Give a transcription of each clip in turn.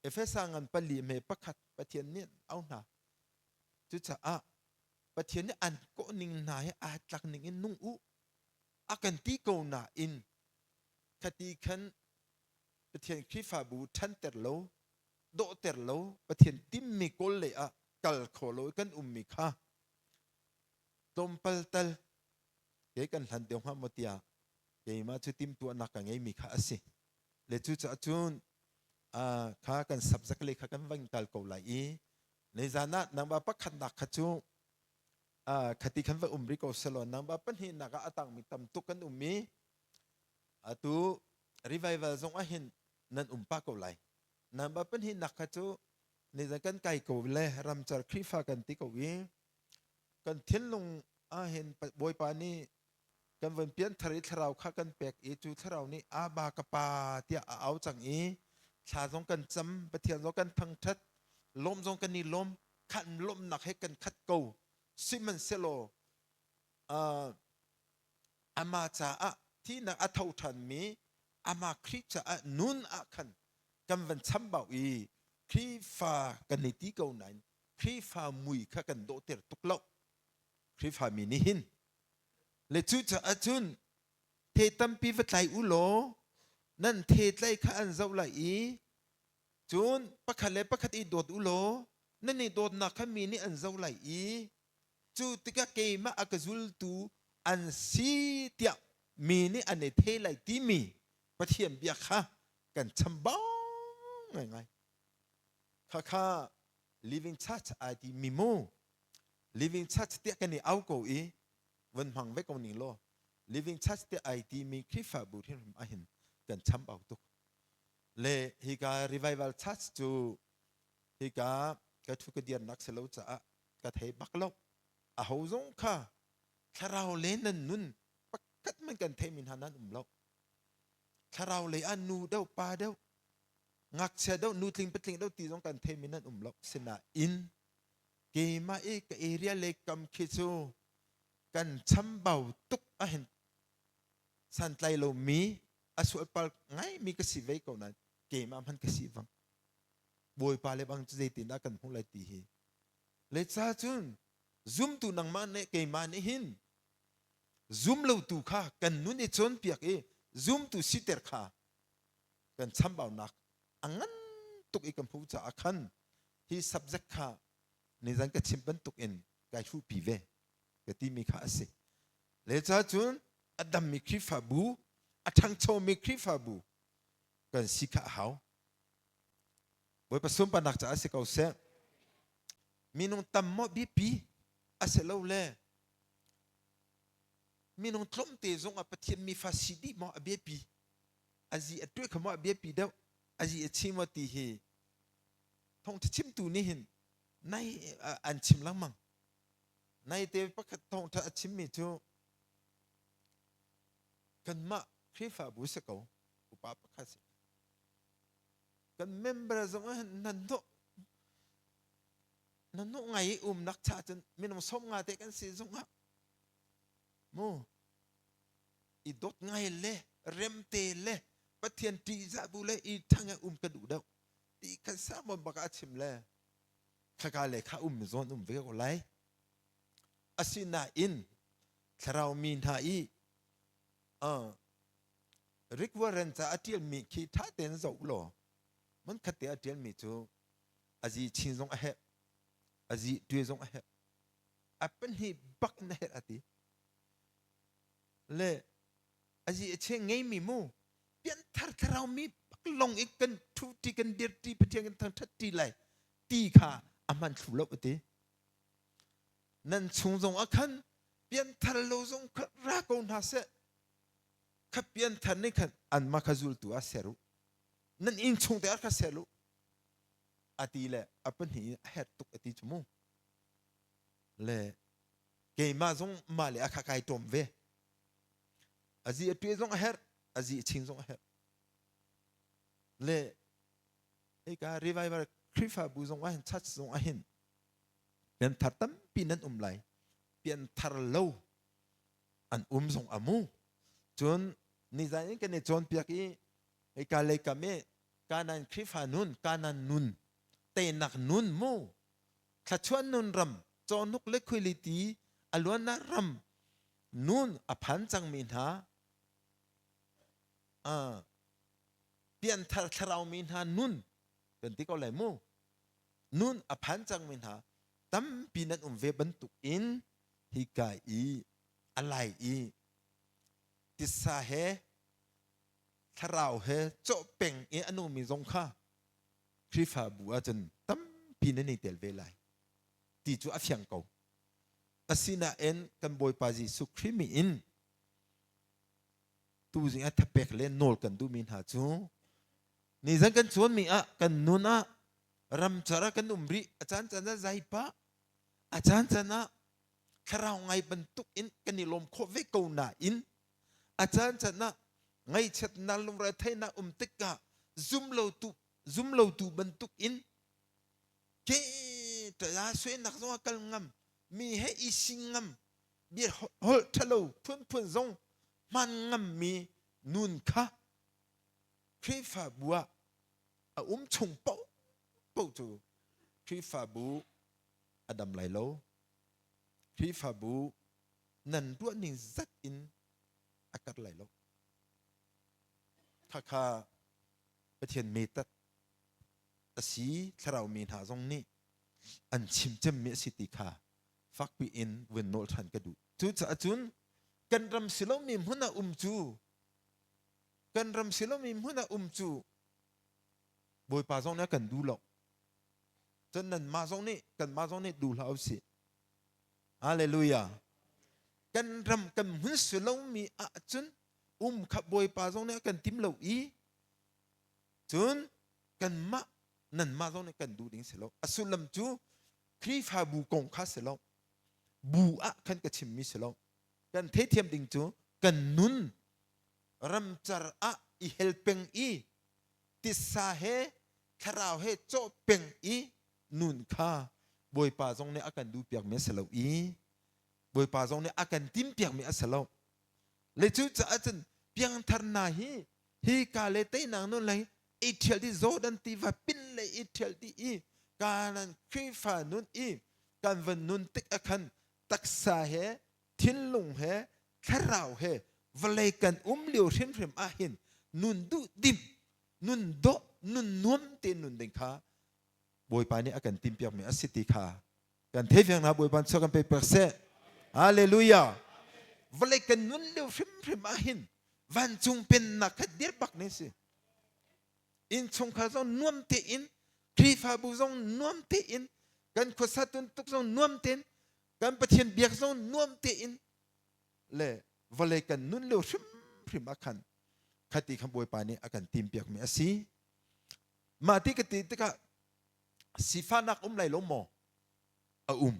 Efesa ngan pali hme pakhat Pathian nih an au hna. Cucaah Pathian nih an kawh ning hna hi aa tlak ning in nung u a kan ti ko nain khati khan Pathian Khrihfabu ṭhanter lo, dawhter lo, Pathian timmi kawl lei ah kal kho lo i kan ummi kha tlawmpal tal kei kan hlan deuh hnga maw tiah keimah cu timhtuahnak ka ngeimi kha a si. le cucaah cun kha kan subject le kha kan va in kal ko lai i nizan ah nangba pakhatnak kha cu khati khan va um rih ko selaw nangba pahnihnak ah a tangmi tam tuk kan um i atu revival zong ah hin nan um pa ko lai nangba pahnihnak kha cu nizan kan kai ko le ramcar khrifa kan ti ko i kan thinlung ah hin bawipa nih Kan von pian thar i thlarau kha kan pek i cu thlarau nih Aba ka pa tiah a au cang i thla zong kan cam Pathian zong kan thangṭhat lawm zong kan i lawm khan lawmnak he kan khat ko sihmanhsehlaw uh, ama caah thihnak a tho ṭhanmi ama Khrih caah nun ah khan kan van chambau i Khrihfa kan i ti ko nain Khrihfa mui kha kan dawhter tuk lo Khrihfami nih hin le cucaah cun the tampi va tlai u law nan the tlai kha an zoh lai i cun pakhat le pakhat i dawt u law nan i dawtnak kha mi nih an zoh lai i cu tikah keimah a ka zultu an si tiah mi nih an i the lai timi pathian bia kha kan chambau ngaingai khakha living church ai ti mi mu Living Church tiah kan i au ko i von hmang ve ko ning law Living Church tiah ai timi Khrihfabu hrinhrim ah hin kan cham au tuk. Le hika Revival Church cu hika ka thu ka dirnak si lo caah ka thei bak lo. A ho zong kha thlarau le nan nun pakhat man kan theimi hna nan um lo. Thlarau lei ah nu deuh pa deuh ngakchia deuh nu tling patling deuh ti zong kan theimi nan um lo. Sinain Keimah i ka area leikam khi cu kan chambau tuk a hin santlai lo mi a sualpal ngaimi ka si ve ko nain keimah hman ka si bang bawipa le bang cu zeitindah kan hmuh lai ti hi le ca cun zumtu nangmah nih keimah nih hin zum lotu kha kan nun i cawnpiak i zumtu siter kha kan chambaunak a ngan tuk i kan hmuh caah khan Hi subject kha nizan ka chim bantuk in kai hruhpi ve ka timi kha a si. Le cun a dammi Khrihfabu, a ṭhangchomi Khrihfabu kan si kha a hau. Bawipa sunparnak caah si ko seh. Minung tam maw biapi a si lo le minung tlawmte zong ah Pathian mi fa si dih maw a biapi? A zi a tuah kha maw a biapi deuh? A zi a chi maw ti hi thongtha chimtu nih hin nai an chim lengmang nai te pakhat thongtha a chimmi cu kanmah khrihfabu si ko upa pakhat si kan member zong ah nan hnawh nan hnawh ngai i umnak cha cun minung som nga te kan si zong ah mu i dot ngai le remte le pathian ṭihzah bu le i ṭhangah um kan u deuh ti kan samon baka a chim le khaka le kha um zawn um ve ko lai asinain thlarau mi hna i requirement ca a ṭialmi khi ṭha tein zoh law man khat te a ṭialmi cu azi chin zong a herh azi tuai zong a herh a pahnih bak na herh a ti le azi a cheng ngeimi mu pian thar tharau mi long ik kan ṭhuṭi kan dirṭi pathian kan thangṭhatṭi lai ti kha a hman thlu lo ka ti nan chung zong a khan pian thar lo zong kha ra ko hna seh kha pian thar nih khan an ma kha zultu a ser u nan in chung te ar kha ser lu ati le a pahnih a her tuk ati chu mu le keimah zong mah le a kha kai ṭom ve azi a ṭue zong a herh azi a chin zong a herh le hika revival khrifabu zong ah hin church zong ah hin pian thar tampi nan um lai pian thar lo an um zong a mu cun nizan in kan i cawnpiak i hika leikam i kanan khrifa nun kanan nun teinak nun mu thluachuah nun ram cawnuk le khuiliti a luannak ram nun a phan cangmi hna uh, pianthar thlaraumi hna nun kan ti ko lai mu nun a phan cangmi hna tampi nan um ve bantuk in hi kai i alai i tisa he thlarau he cawh peng i anumi zong kha Khrihfabu ahcun tampi nan i tel ve lai ti cu a fiang ko. Asinain kan Bawipa Jesuh Khrih min in tu zing ah thapek le nawl kan duhmi hna cu nizan kan chuanmi ah kan nun ah ramcar ah kan um rih a caan caan ah zai pah a caan caan ah thlarau ngai bantuk in kan i lawm khawh ve ko nain A caancaan ah ngaihchiatnak lungretheihnak um tikah zumlotu zumlotu bantuk in ke ṭaya suainak zongah kal ngam mi he i sing ngam bia holh ṭhalo phunphun zong hman ngam mi nun kha Khrihfabu ah a um chung paoh paoh cu Khrihfabu a dam lai lo Khrihfabu nan tuah ning zat in a kat lai lo khakha pathian metat asi thlarau mi hna zong nih an chim cem mi asi ti kha fakpi in vun nol than ka du cu caah cun kan ram silo mi hmuna um cu kan ram silo mi hmuna um cu bawipa zong nih kan du lo cun nan ma zong nih kan ma zong nih du hlah u si Hallelujah. Kan ram kan hun su lomi ahcun um kha Bawipa zong nih a kan tim lo i cun kanmah nanmah zong nih kan duh ding si lo. A sullam cu Khrihfabu kong kha si lo. Bu ah khan ka chimmi si lo. Kan theithiam ding cu kan nun ramcar ah i hel peng i tissa he thlarau he cawh peng i nun kha Bawipa zong nih a kan duhpiakmi a si lo i Bawipa zong nih a kan timpiakmi a si lo. Le cu caah cun piangthar hna hi hi ka le teinak nun le i ṭhial dih Jordan tiva pin le i ṭhial dih i Kanaan Khrihfa nun i kan van nun tik ah khan taksa he thinlung he thlarau he vawlei kan um lio hrimhrim ah hin nun duh dim nun dawh nun nuam tein nun ding kha bawipa nih a kan timpiakmi a si ti kha kan thei fiang hna bawipa chuak kan pe pek seh hallelujah vawlei kan nun lio hrimhrim ah hin vancung pennak kha dirpak ne si innchungkhar zong nuam tein Khrihfabu zong nuam tein kan khuasatun tuk zong nuam tein kan Pathian biak zong nuam tein le vawlei kan nun lio hrimhrim ah khan khati khan Bawipa nih a kan timpiakmi a si. Mah ti ka ti tikah sifahnak um lai lo maw? A um.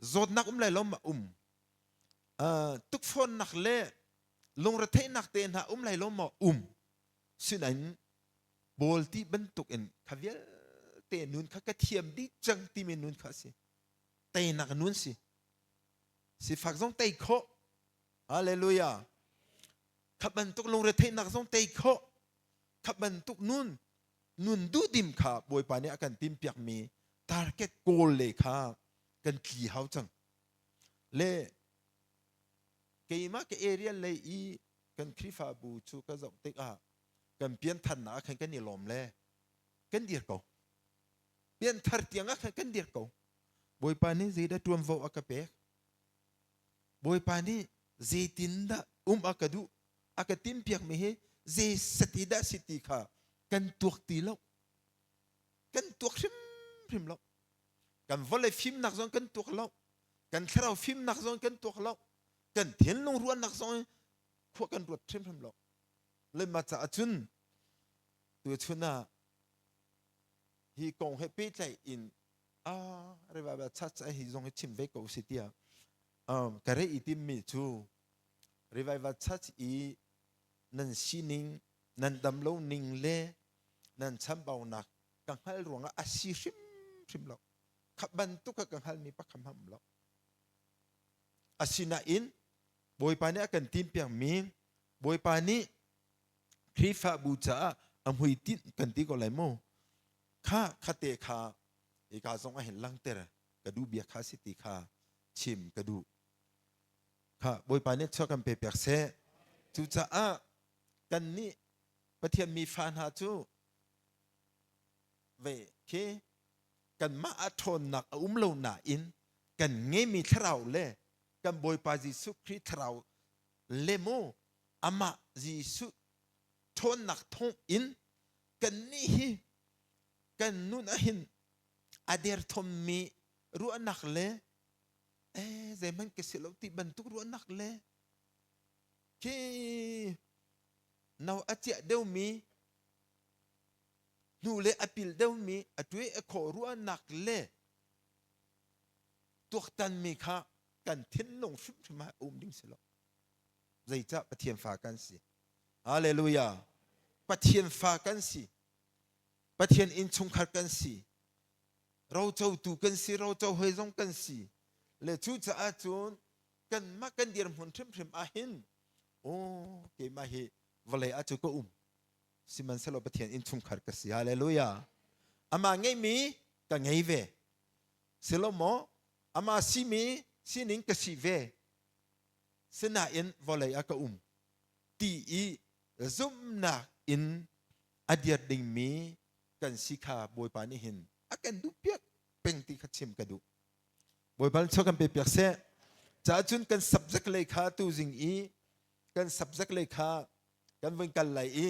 Zawtnak um lai lo maw? Um. Uh, tukfornak le lungretheihnak te hna um lai lo maw? Um. Sinain Bawl ti bantuk in kha vialte nun kha ka thiam dih cang timi nun kha a si. teinak nun si sifak zong tei khawh hallelujah khat bantuk lungre theihnak zong tei khawh khat bantuk nun nun duhdim kha bawipa nih a kan timpiak mi target goal le kha kan tli hau cang le keimah ke area lei i kan khrifabu cu ka zoh tik ah kan pian thannak khan kan i lawm le kan dir ko pianthar tiang ah khan kan dirh ko bawipa nih zeidah ṭuanvo a ka pek bawipa nih zeitindah um a ka duh a ka timpiakmi hi zei sati dah si ti kha kan tuak ti lo kan tuak hrimhrim lo kan vawlei fimnak zong kan tuak lo kan thlarau fimnak zong kan tuak lo kan thinlung ruahnak zong khua kan ruat hrimhrim lo le ma caah cun tu chun ah hi kong he pehtlaih in ah revival church hi zong hi chim ve ko si tiah um, ka re i timmi cu revival church i nan sining nan dam lo ning le nan chambaunak ka hngal ruangah a si hrim hrim lo kha bantuk ka hngalmi pakhat ham lo asinain bawipa nih a kan timpiakmi Bawipa nih Khrihfabu caah a hmuitinh kan ti ko lai mu. Kha khate kha i ka zong a hin langter ka duh bia kha si ti kha chim ka duh. Kha Bawipa nih chuah kan pe pek seh. Cucaah kan nih Pathian mi fa hna cu ve khi kanmah ah ṭhawnnak a um lo nain kan ngeimi thlarau le kan Bawipa Jesuh Khrih thlarau le maw amah Jesuh ṭhawnnak thawng in kannih hi kan nun ah hin a derthawmmi ruahnak le eh, zeihmanh ka si lo ti bantuk ruahnak le khi no a ciah deuhmi hnu le a pil deuhmi a tuai a khaw ruahnak le tuaktanmi kha kan thinlung hrimhrim ah um ding si lo zeicah pathian fa kan si hallelujah pathian fa kan si pathian innchungkhar kan si rocotu kan si roco hoi zong kan si le cu caah cun kan mah kan dirhmun hrimhrim ah hin oh keimah hi vawlei ah cu ka um sihmanhsehlaw pathian innchungkhar ka si hallelujah amah ngeihmi ka ngei ve si lo maw amah simi sining ka si ve sinain vawlei ah ka um ti i zumhnak in a diat dingmi kan si kha bawipa nih hin a kan duh piak peng ti kha chim ka duh bawipa cho kan pe piak seh caah cun kan subject lei kha tu zing i kan subject lei kha kan vun kal lai i